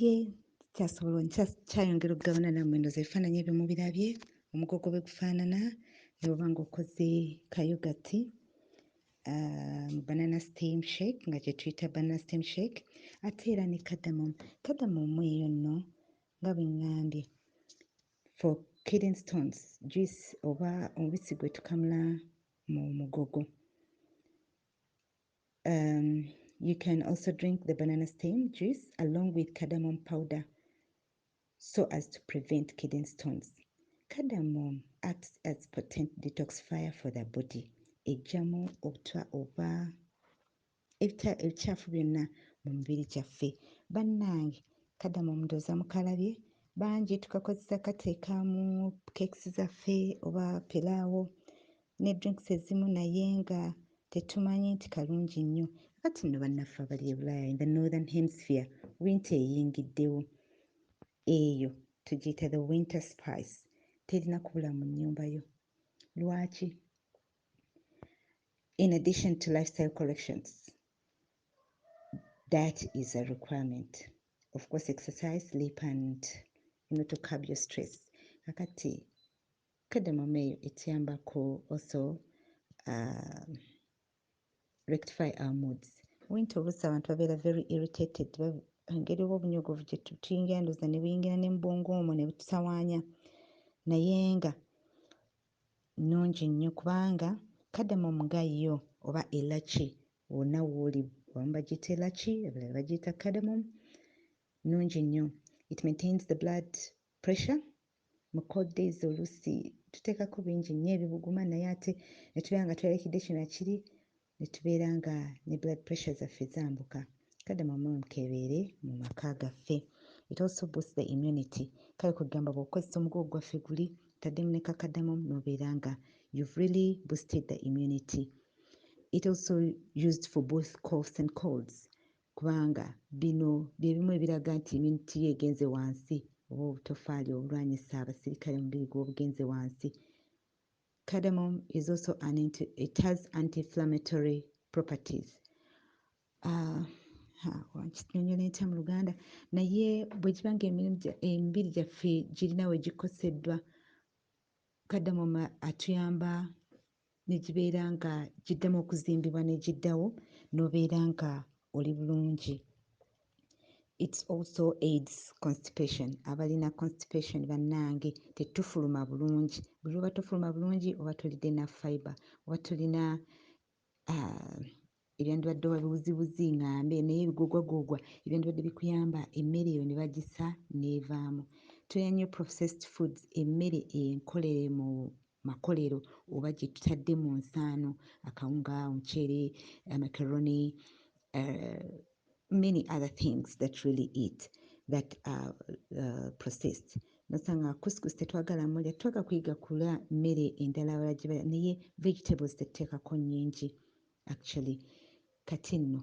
ye kyasobola kyayongera okugabana nammwe ndoza ebifaananyi ebyo mubirabye omugogo bwe gufaanana ne bweba nga okoze kayogati ah, mu banana steam shake nga kyetuyita banana steam shake ate era ne kadamom kadamom eyo nno nga bwengambye for kidden stones juice oba omubisi gwetukamula mu mugogo Um, you can also drink the banana stem juice along with cardamom powder so as to prevent kidney stones. Cardamom acts as potent detoxifier for the body. Ejjamu obutwa oba ebikyafu byonna mu mubiri gyaffe. Bannange cardamom ndooza mukalabye bangi tukakozesa kateeka mu cakes zaffe oba pilaawo ne drinks ezimu naye nga tetumanyi nti kalungi nnyo. Kati nno bannaffe abali e Bulaaya in the northern hemisphere winter eyingiddewo. Eyo tugiyita the winter spice. Terina kubula mu nnyumba yo. Lwaki? In addition to lifestyle corrections, that is a requirement. Of course exercise, sleep and you know to curb your stress. Kakati Cardamom eyo etuyamba ku also uh, rectify our moods. Winter oluusi abantu babeera very irritated engeri oba obunyogovu gye tuyingira ndoza ne buyingira ne mubwongo omwo ne bututawaanya naye nga nnungi nnyo kubanga cardamom nga yo oba elaki wonna wooli abamu bagiyita elaki abalala bagiyita cardamom nnungi nnyo it maintains the blood pressure Mu cold days oluusi tuteekako bingi nnyo ebibuguma naye ate ne tubeera nga tweralikidde kino na kiri ne tubeera nga ne blood pressure zaffe zambuka. Kale mwe mube mukebeere mu maka gaffe. It also boosts the immunity. Kale kwe kugamba bw'okozesa omugugu gwaffe guli otaddemu ne kakadamom n'obeera nga you've really boosted the immunity. It also used for both coughs and colds. kubanga bino bye bimu ebiraga nti immunity yo egenze wansi oba obutofaali obulwanyisa abasirikale omubiri gwo obugenze wansi. Cardamom is also an anti, it has anti-inflammatory properties. Uh, kinyonyola entya mu luganda naye bwe kiba nga emibiri gyaffe girina we gikoseddwa kadamoma atuyamba ne gibeera nga giddamu okuzimbibwa ne giddawo n'obeera nga oli bulungi it also aids constipation abalina constipation bannange tetufuluma bulungi buli oba tofuluma bulungi oba tolidde na fiber oba tolina uh, ebyandibadde oba biwuziwuzi ngambe naye ebigogwagogwa ebyandibadde bikuyamba emmere eyo ne bagisa n'evaamu tulina nnyo processed foods emmere enkolere mu makolero oba gye tutadde mu nsaano akawunga omuceere amacaroni uh, eh, many other things that really eat that are uh, processed nosanga kuskus tetwagala mulya tetwaga kuyiga kulya mmere endala abala gye balya naye vegetables tetuteekako nnyingi Actually Kati nno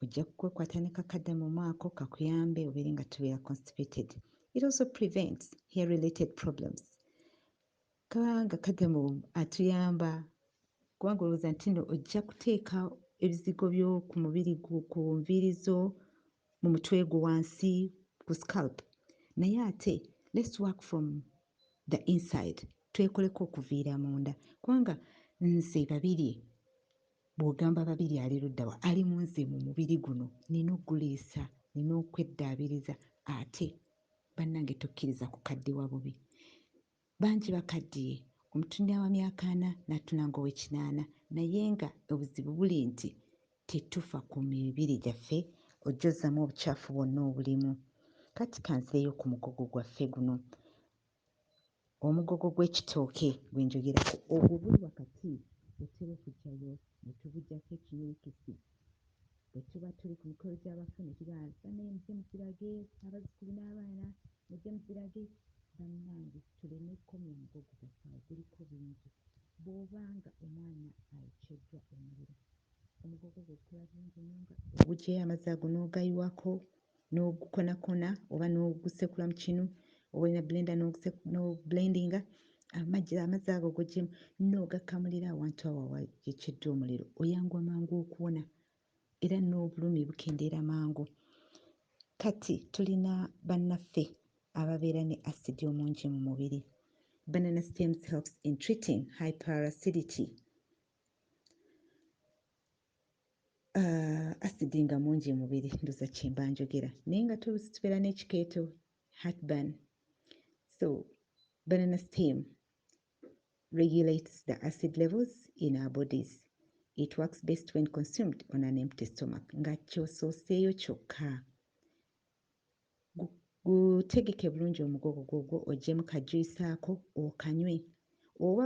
ojja kukwekwata ne kakadde mu mwako kakuyambe obeere nga tobeera constipated. It also prevents hair related problems. Kabanga kademo atuyamba kubanga olowooza nti nno ojja kuteeka ebizigo byo ku mubiri gwo ku nviiri zo mu mutwe gwo wansi ku scalp naye ate let's work from the inside twekoleko okuviira munda kubanga nze babirye bw'ogamba babiri ali ludda wa ali mu nze mu mubiri guno nina okuguliisa nina okweddaabiriza ate bannange tokkiriza kukaddiwa bubi Bangi bakaddiye, omutunira wa myaka ana n'atuna ng'ow'ekinaana naye nga obuzibu buli nti tetufa ku mibiri gyaffe ojjozzamu obucaafu bwonna obulimu. Kati kanzireyo ku mugogo gwaffe guno, omugogo gw'ekitooke gwe njogerako ogwo guli wakati otera okujjayo ne tugujjako ekinyirikisi. Bwe tuba tuli ku mikolo gy'abafu ne tugamba nti, Bannange mujje mugirage abazzukulu n'abaana, mujje mugirage, bannange tuleme kukomya mugo gugasa awo, guliko bingi. Bw'oba nga omwana ayokyeddwa omuliro, omugo gwo gwe gukola bulungi nnyo nga. Oguggyeyo amazzi ago n'ogayiwako, n'ogukonakona oba n'ogusekula mu kinu oba olina blenda n'oblendinga amazzi ago gojemu n'ogakamulira awantu awo awayekedde omuliro oyanguwa mangu okuwona era n'obulumi bukendeera mangu kati tulina bannaffe ababeera ne asidi omungi mu mubiri banana stems helps in treating hyperacidity uh, asidi nga mungi mubiri ndoza kyemba njogera naye nga tolusi tubeera n'ekikeeto hatban so banana steam regulates the acid levels in our bodies it works best when consumed on an empty stomach nga kyosooseeyo kyokka gutegeke bulungi omugogo gwogwo ojjemu kajuisaako okanywe oba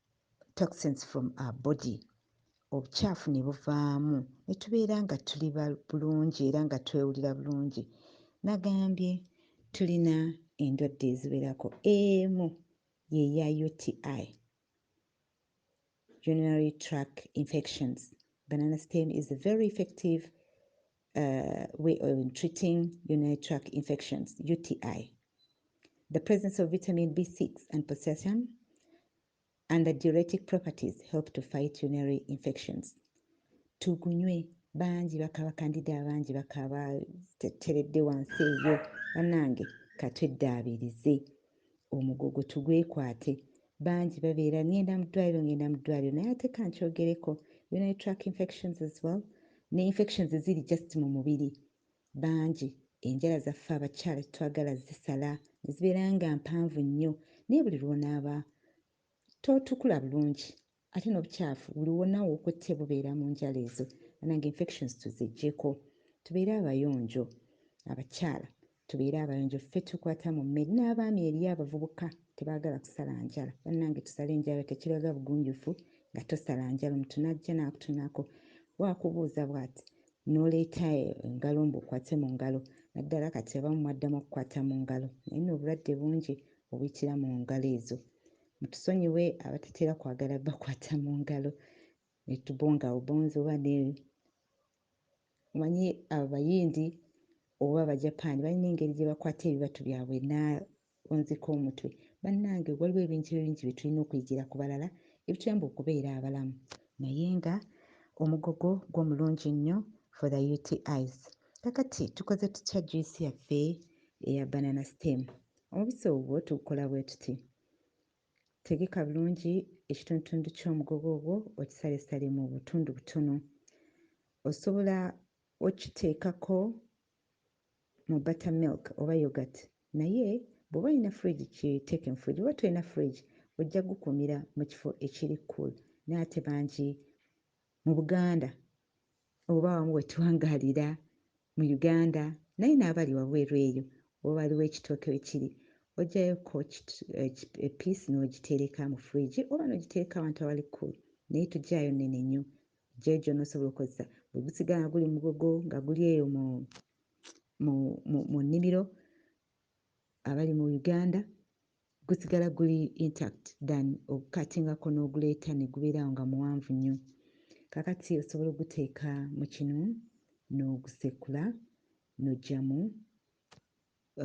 toxins from our body obukyafu ne buvaamu ne tubeera nga tuli bulungi era nga twewulira bulungi nagambye tulina endwadde eziwerako emu yeya uti urinary track infections banana stem is very effective uh, way of treating urinary tract infections, UTI. The presence of vitamin B6 and potassium and the diuretic properties help to fight urinary infections. Tugunywe bangi bakaba kandida bangi bakaba teredde wansi eyo banange katweddaabirize omugogo tugwekwate bangi babeera ngenda mu ddwaliro ngenda mu ddwaliro naye ate kankyogereko urinary track infections as well ne infections ziri just mu mubiri bangi enjala zaffe abakyala tetwagala zisala nezibeera nga mpanvu nnyo naye buli lwonaaba totukula bulungi Ate nobukyafu buli wona wokutte bubeera munjala ezo banange infections tuzijjeko tubeere abayonjo abakyala tubeere abayonjo ffe tukwata mu mmere n'abaami eriyo abavubuka tebagala kusala njala banange tusale njala tekilaga bugunjufu nga tosala njala omuntu najja nakutunako bwakubuuza bwati noleeta engalo mbu okwate mu ngalo naddala kati abamu mwaddamu okukwata mu ngalo naye no obulwadde bungi obuyitira mu ngalo ezo Mutusonyiwe abatatera kwagala bakwata mu ngalo netubonga obonzi oba ne omanyi abayindi oba abajapaani balina engeri gye bakwata ebibatu byabwe naonzika omutwe bannange waliwo ebintu ebingi bye tulina okuyigira ku balala ebituyamba okubeera abalamu naye nga omugogo gwo mulungi nnyo for the utis kakati tukoze tutya juice yaffe eya banana stem Omubisi ogwo tugukola bwe tuti, Tegeka bulungi ekitundutundu ky'omugogo ogwo okisalesale mu butundu butono. Osobola okukiteekako mu butter milk oba yoghurt naye bw'oba olina fridge kiteeke mu fridge. Bw'oba tolina fridge ojja kugukuumira mu kifo ekiri cool naye ate bangi mu Buganda oba awamu we tuwangaalira Mu Uganda naye n'abali wabweru eyo oba waliwo ekitooke we kiri oggyayo ko epiisi n'ogitereka mu fridge oba n'ogitereka awantu awali cool naye toggyaayo nnene nnyo. Oggyayo gy'onoosobola okukozesa. Bwe gusigala nga guli mugogo nga guli eyo mu mu nnimiro abali mu Uganda gusigala guli intact than okukatingako n'oguleeta ne gubeera awo nga muwanvu nnyo. Kaakati osobola oguteeka mu kinu n'ogusekula n'oggyamu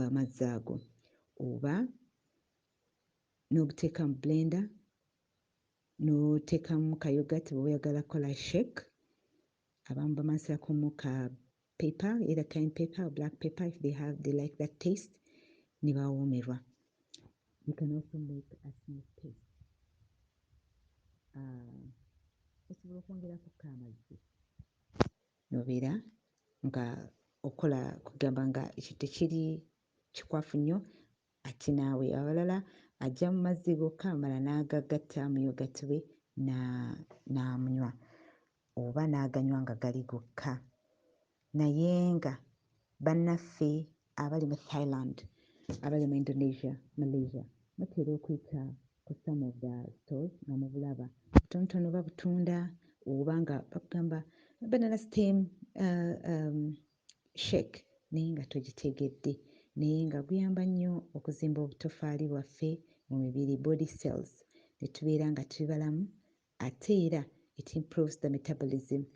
amazzi uh, ago oba n'oguteeka mu blender n'oteekamu kayogati bw'oyagala kola shake Abamu bamansirakomu ka pepper either time pepper or black pepper if they have they like that taste ne bawoomerwa you can also make a smooth paste ah, osobola uh, okwongerako ko amazzi nobeera nga okola kugamba nga ekyo tekiri kikwafu nnyo ate naawe abalala ajja mu mazzi gokka amala n'agagatta mu yogati we n'amunywa na, oba n'aganywa nga gali gokka naye nga bannaffe abali mu Thailand, abali mu Indonesia, Malaysia batera okuyita ku some of the stores nga mubulaba butonotono oba butunda oba nga bakugamba banana steam uh, um, shake naye nga togitegedde naye nga guyamba nnyo okuzimba obutofaali bwaffe mu mibiri body cells ne tubeera nga tuli balamu Ate era it improves the metabolism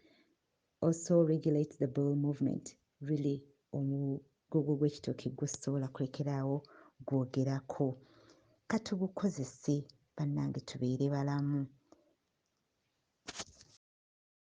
also regulates the bowel movement really omugogo gw'ekitooke gwo sisobola kulekera awo gwogerako katugukozese bannange tubeere balamu.